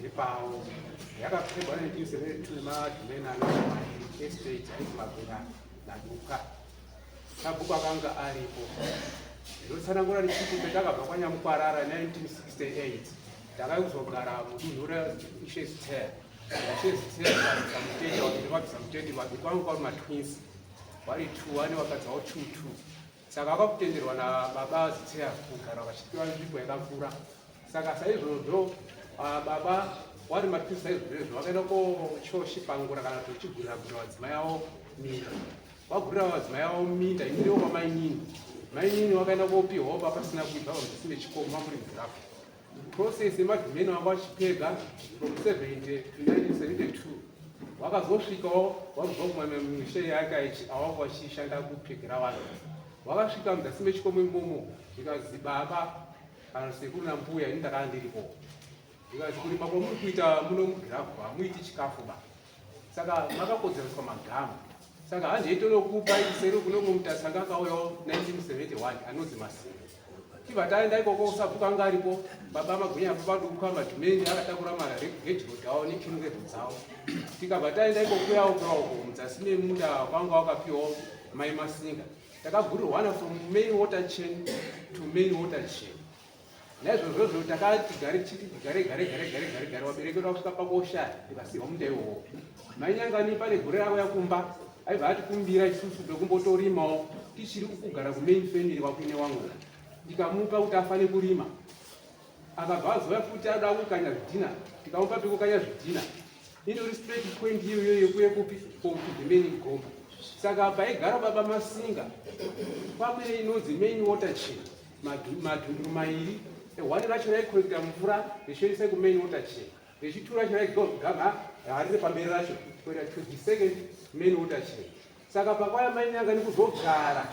iri pawo yakapfekwa nejuzi retune madhumena estate aizimagura naduka sabhuku akanga aripo ndotsanangura richiti petakabva kwanyamukwarara 1968 takai kuzogara mudunhu reisheziter isheziter vabisa muteti wakuti vabisa muteti vabi kwangu kwari matwins vari two ane vakadzi vavo two two Saka vakutenderwa nababa Zitseya kugara vachipiwa nzvimbo yakakura. Saka saizvozvo ah, baba wari mativi saizvozvo vakaenda kochoshipangura kana kuti vachigurira gurira vadzimai avo minda. Vagurira vadzimai avo minda imirewo kwamainini. Mainini wakaenda kopiwawo papasina kuibva pamudhisi nechikomo mamuri mudhafu. Process yemadhimeni wangu achipedza from 70 to 1972 wakazosvikawo wakubva kumwana misha yake awanga wachishanda kupfekera vanhu wakasvika mudasi mechikomo imomo zvikanzi baba kana sekuru nambuya ini ndakanga ndiripo zvikanzi kurima kwamuri kuita muno mugirafu hamuiti chikafu ba saka makakodzereswa magama saka hanzi itonokupa iseri kunomwe mutasi anga akauyawo 1971 anonzi masinga iva taenda ikoko usabvuka anga aripo baba magwinya apo padukwa madhumeni akatakura mara regedigodi awo nekinurero dzawo tikabva taenda ikokuyawo kuraoko mudzasi memunda kwanga wakapiwawo mai masinga takagurirwana from main water chain to main water chain naizvozvozvo takati gare chiti gare gare gare gare gare gare waberekerwa kusvika pakosha tikasiwa munda iwowo mainyangani pane gore ravo yakumba aibva atikumbira isusu tokumbotorimawo tichiri kugara kumain family wakuine wangu ndikamupa kuti afane kurima akabva azoya futi ada kukanya zvidhina tikamupa pekukanya zvidhina indori straight point iyoyo yekuye kupi kokudhimeni goma saka paigara baba masinga pamene inonzi main water china madhunduru mairi ehwani racho raikorekita mvura richishandisa kumain water chain richitura racho raigogama hari repamberi racho kuenda to the second main water chain saka pakwaya maini yanga nekuzogara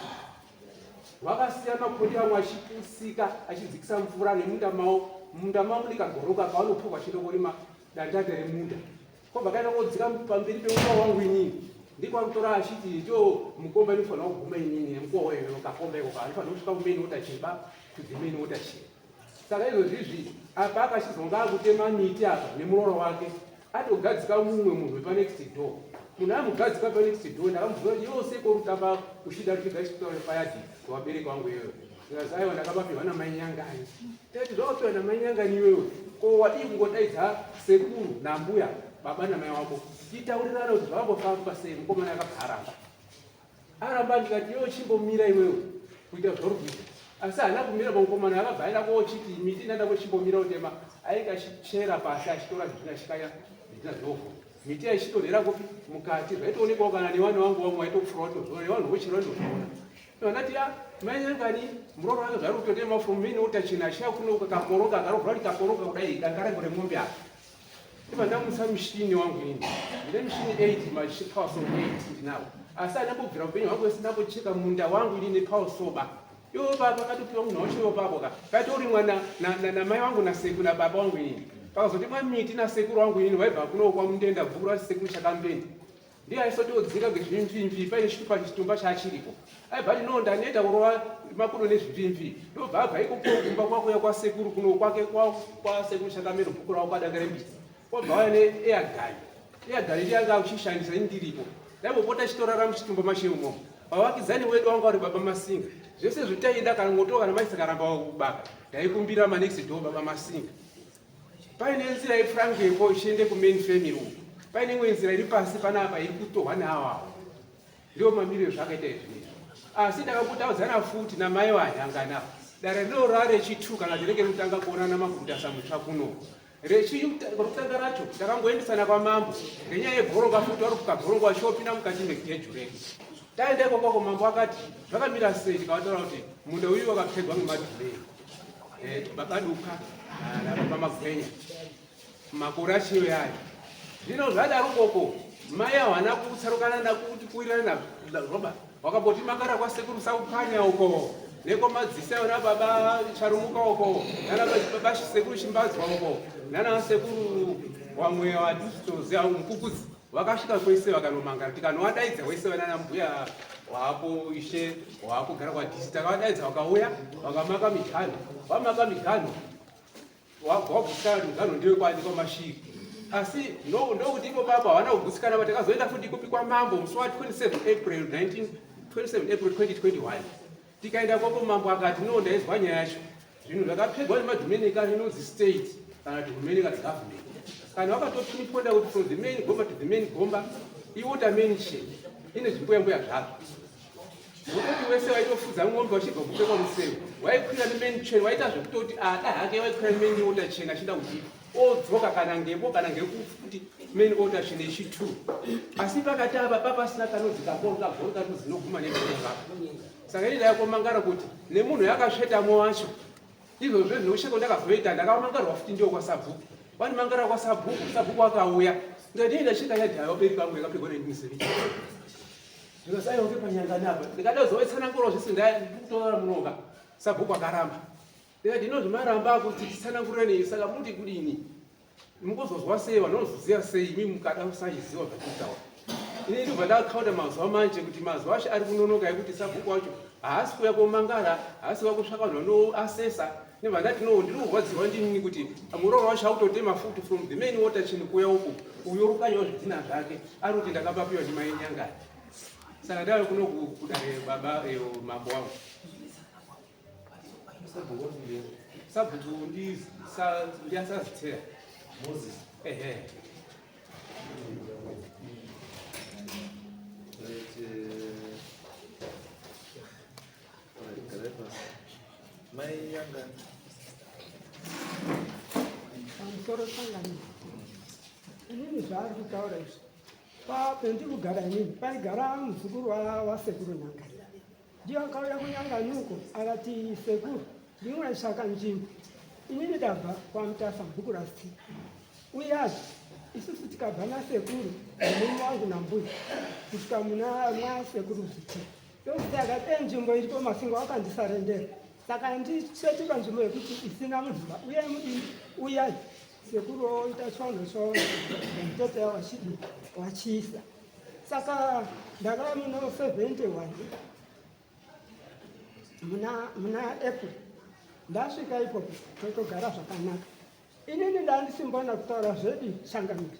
vakasiya makondi vamwe achipusika achidzikisa mvura nemunda mavo munda mavo ndikagoroka pavanopfuka chinokorima dandanda remunda kwabva kaita kodzika pamberi pemuka wangu inini ndiko anotora achiti cho mukomba inofanira kuguma inini nemukowa weyo kakomba iko kaanofanira kusvika kumeni wota cheba kudzimeni wota cheba saka izvozvizvi apa akachizonga akutema miti apa nemuroora wake atogadzika mumwe munhu wepanext door munhu amugadzika panext door ndakamubvura kuti yose korutamba uchida rutigaisitaure payadi kuvabereki vangu iyoyo Zikazi aiwa ndakabapihwa namai nyangani. Tati zvawapihwa namai nyangani iwewe ko wadii kungodaidza sekuru nambuya baba namai wako titaurirana kuti zvakambofamba sei mukomana akabva aramba aramba ndikati iwe chimbomira iwewe kuita zvauri kuita asi haana kumira pamukomana akabva aenda koochiti miti ndaenda kochimbomira utema ainge achichera pasi achitora zvitina chikaya zvitina zvinovhu miti yaichitorera kupi mukati zvaitoonekwawo kana newana wangu wamwe waitofroto newanhu vochera ndozviona Vanati ya mainyangani muroora wangu zvari kutotema from mini utachina ashaya kuno kakoroka akarovhura kuti kakoroka kudai dangarengo remombe apa iva ndamusa mushini wangu ini ndine mushini 8 mapower so 8 ndinawo asi andambobvira upenyu hwangu wese ndambocheka munda wangu ini nepower soba iwo baba katopiwa munhu wacho iwo baba ka katorimwa namai wangu naseku nababa wangu ini pakazotemwa miti nasekuru wangu ini vaibva kuno kwamundenda bvukura sekuru chakambeni ndiye aisotiudzika ngezvimvimvi paine chitupa chitumba chaachiripo aibva ndinoo ndaneta kurova makudo nezvimvimvi ndobva abva ikoko kumba kwakuya kwasekuru kuno kwake kwasekuru chakamero bhuku ravo kwadanga rembizi kwabva waya neeagani eagani ndiye anga uchishandisa ini ndiripo ndaimopota chitorara muchitumba mache umo pavakidzani wedu wanga vari baba masinga zvese zvitaida kana mwotoka namaisa karamba wakubaka ndaikumbira manext do baba masinga paine nzira yefrangepo ichiende kumain family uku paine imwe nzira iri pasi panapa iri kutohwa neawawo ndiwo mamiriro zvakaita izvinei asi ndakakutaudzana futi namai vanyangana dare rinorora rechitu kana rinenge rikutanga kuonana makutasa mutsva kuno rechirokutanga racho ndakangoendesana kwamambo ngenyaya yebhoronga futi wari kukabhoronga wachopinda mukati megeju redu taenda ikokoko mambo akati zvakamira sei ndikavataura kuti munda uyu wakapfegwa ngemadhurei Eh, babaduka nababa magwenya makore achiyo yayo zvino zvadaro koko mai hawana kutsarukana nakuti kuwirirana naroba wakamboti makara kwasekuru saupanya uko neko madzisa yona baba charumuka uko nanababa sekuru chimbadzwa uko nanasekuru wamwe wadisitozi mukukudzi Vakasvika kwese vakanomangara tikanowadaidza wese vanana mbuya wako ishe wako gara kwadisi takavadaidza vakauya vakamaka miganho vamaka miganho wagutsikana miganho ndiwe kwadi kwamashiri asi ndokuti ipo baba havana kugutsikana va takazoenda futi kupi kwamambo musi wa 27 april 19 27 april 2021 Tikaenda kwapo mambo akati no ndaizwa nyaya yacho zvinhu zvakapfegwa nemadominica inonzi state kana kuti hurumende kana government kana wakatotuniponda kuti from the main gomba to the main gomba iwater mansion ine zvimbuyambuya zvazvo nokuti wese waitofudza ng'ombe wachibva kupfekwa museu waikwira nemain chen waita zvekutoti ada ah, hake waikwira nemain water chen achida kuziva odzoka kana ngepo kana ngekufu kuti main order chine chi two asi pakati apa papasina kanodzi kakoro kagoro kati zinoguma nekureva saka ini ndayakomangara kuti nemunhu yakasvetamo wacho izvozvo zvinousheko ndakazoita ndakamangarwa futi ndiwo kwasabhuku wandimangara kwasabhuku sabhuku akauya ndikati ndasvika yadhayo beri pangu yakapigwa nendimusiri ndikati ayoke panyangani apa ndikada kuzovetsana ngoro zvese ndakutora munoka sabhuku akaramba Ndikati hino zvamaramba akuti tisanangurira nei saka muti kudini? Mukuzozwa sei vanhu vanozoziva sei imi mukada kusachiziva zvatitaura. Ini ndibva ndakakhauta mazuva manje kuti mazuva ashe ari kunonoka ekuti sabhuku wacho haasi kuuya komangara haasi kuuya kusvaka vanhu vanoasesa ndibva ndati no ndiri kurwadzirwa ndinini kuti muroora wacho akutotema futi from the main water chini kuuya uku uyo rukanyawo zvidhina zvake ari kuti ndakapapiwa ndimai nyangari saka ndave kuno kudare baba eh, mambo wangu sabhutu ndiyasaziteya moses ehe pamusoro sangano inini zvaari kutaura izvi pendiri kugara inini paigara muzukuru wasekuru nanga ndiyo akauya kunyanganuko akati sekuru ndinwaisvaka nzvimbo inini ndabva kwamutasa bhuku rasi uyazve isusu tikabva nasekuru nemume wangu nambuya kusvika muna mwasekuru zviti ndokuti akati enzvimbo iripo masingo akandisarendera saka ndichetotika nzvimbo yekuti isina munhuba uye mudini uyai sekuru oita chivanhu cho mutete wachidi wachiisa saka ndakava muna 71 muna muna april ndasvika ipopo totogara zvakanaka inini ndandisimbona kutaura zvedi changamire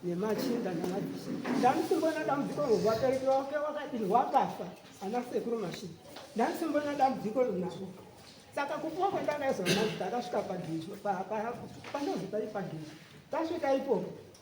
nemachinda namabisi ndandisimbona dambudziko rwabereki wake wakadini wakafa ana sekuru mashini ndandisimbona dambudziko runako saka kupuwa kwendakaizwa mazi ndakasvika padizvo panozi pai padizvo tasvika ipopo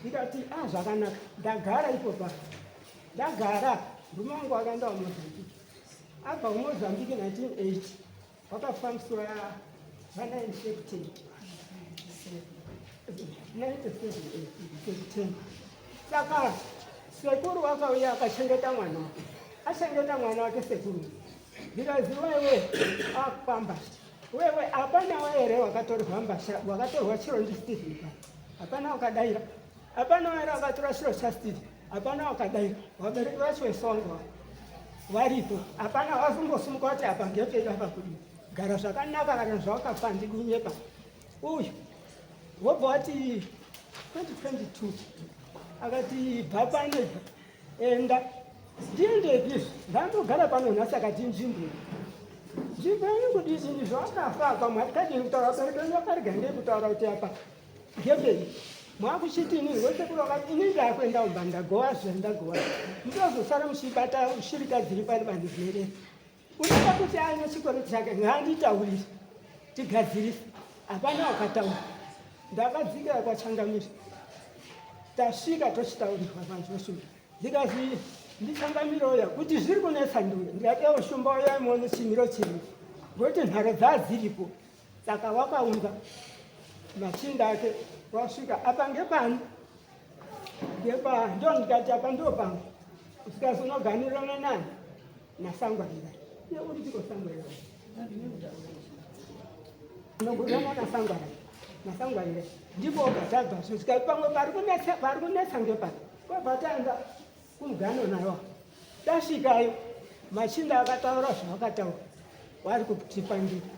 ndikati a ah, zvakanaka ndagara ipopa ndagara murume wangu akaenda kumozambiki abva kumozambiki 1980 wakafambiswa vanainfected 97 saka sekuru wakauya akachengeta mwana wake achengeta mwana wake sekuru ndikaziva iwe akufamba Wewe hapana wewe here wakatorwa mbasha wakatorwa chiro ndi Steve pa. Hapana wakadaira. Hapana wewe wakatora chiro cha Steve. Hapana wakadaira. Wabereki vacho vesongo. Varipo. Hapana wazungosumuka kuti apa ngepe apa kudi. Gara zvakanaka kana zvawakafa ndikunyepa. Uyu. Wobva wati 2022 akati bhapa ane Enda ndiendepi izvi ndandogara pano nhasi akati nzvimbo nzvimbo yenyu kudii ini zvawakafa apa mwari kadini kutaura abereki venyu vakarega ndei kutaura kuti apa ngepei mwakuchiti ini ngosekurova ini ndakuenda umba ndagowa zve ndagowa ndozosara muchibata shirika dziri pari vanhu zveree unoda kuti aine chikoro chake ngaanditaurire tigadzirise hapana wakataura ndakadzikira kwachangamire tasvika tochitaurirwa vanhu vashuma ndikazi ndichangamire uya kuti zviri kunetsa ndure ndikadewo shumba uya imone chimiro chiri ngokuti nharo dzadziripo saka wakaunza machinda ake wasvika apa ngepani ngepa ndo ndikati apa ndopano usikazonoganirana nani Nasangwarira. Iwe uri chiko sangwarira. Ndogona mwana sangwarira. Nasangwarira. Ndipo ukatadza zvisikari pamwe pari kunetsa pari kunetsa ngepari. Kwabatanga kumugano nayo. Tasvikayo machinda akataura zvavakataura. Wari kutipandira.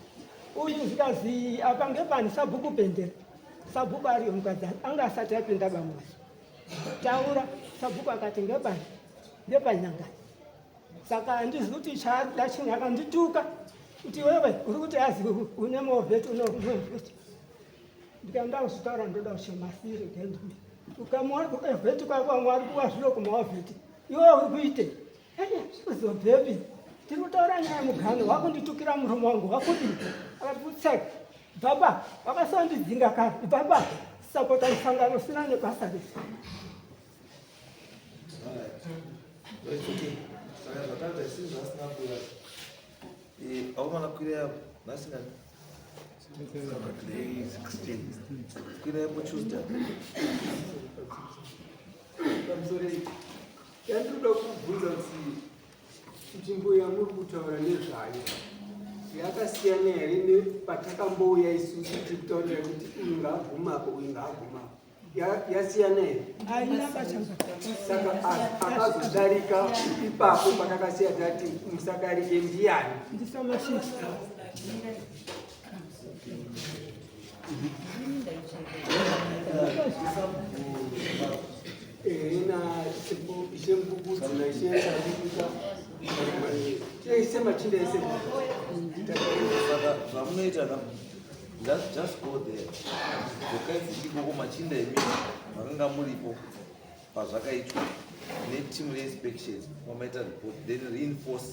Uyu zikazi apa ngepani sabhuku pendera. Sabhuku ari mukadzi anga asati apinda bamwazi. Taura sabhuku akati ngepa ngepanyanga. Saka handizivi kuti chaarikuda chinhu akandituka kuti wewe uri kuti azi une movheti unomovheti ndikaenda kuzvitaura ndoda kuchemasiri ukamuona kuvheti kwako vamwe vari kuwa zviro kumavheti iwe uri kuitei Chizo David, tiri kutaura nyaya muganhu wakunditukira murume wangu wakudii? Akati kutseka, baba vakasandidzinga kare, baba sapota musangano usina nebasa rese. Aumana kukwira yapo nhasi nani? Kukwira yapo Tuesday. Yandinoda kukubvunza kuti nzvimbo yamuri kutaura nezvayo yakasiyana here nepatakambouya isusu tiri kutaurira kuti uyu ngaagumapo uyu ngaagumapo yasiyana here saka akazodarika ipapo patakasiya tati musadarike ndiyani zvamunoita ka just just go there dzokai dzichikoko machinda emi makanga muripo pazvakaitwa netimu reinspections mamaita report then reinforce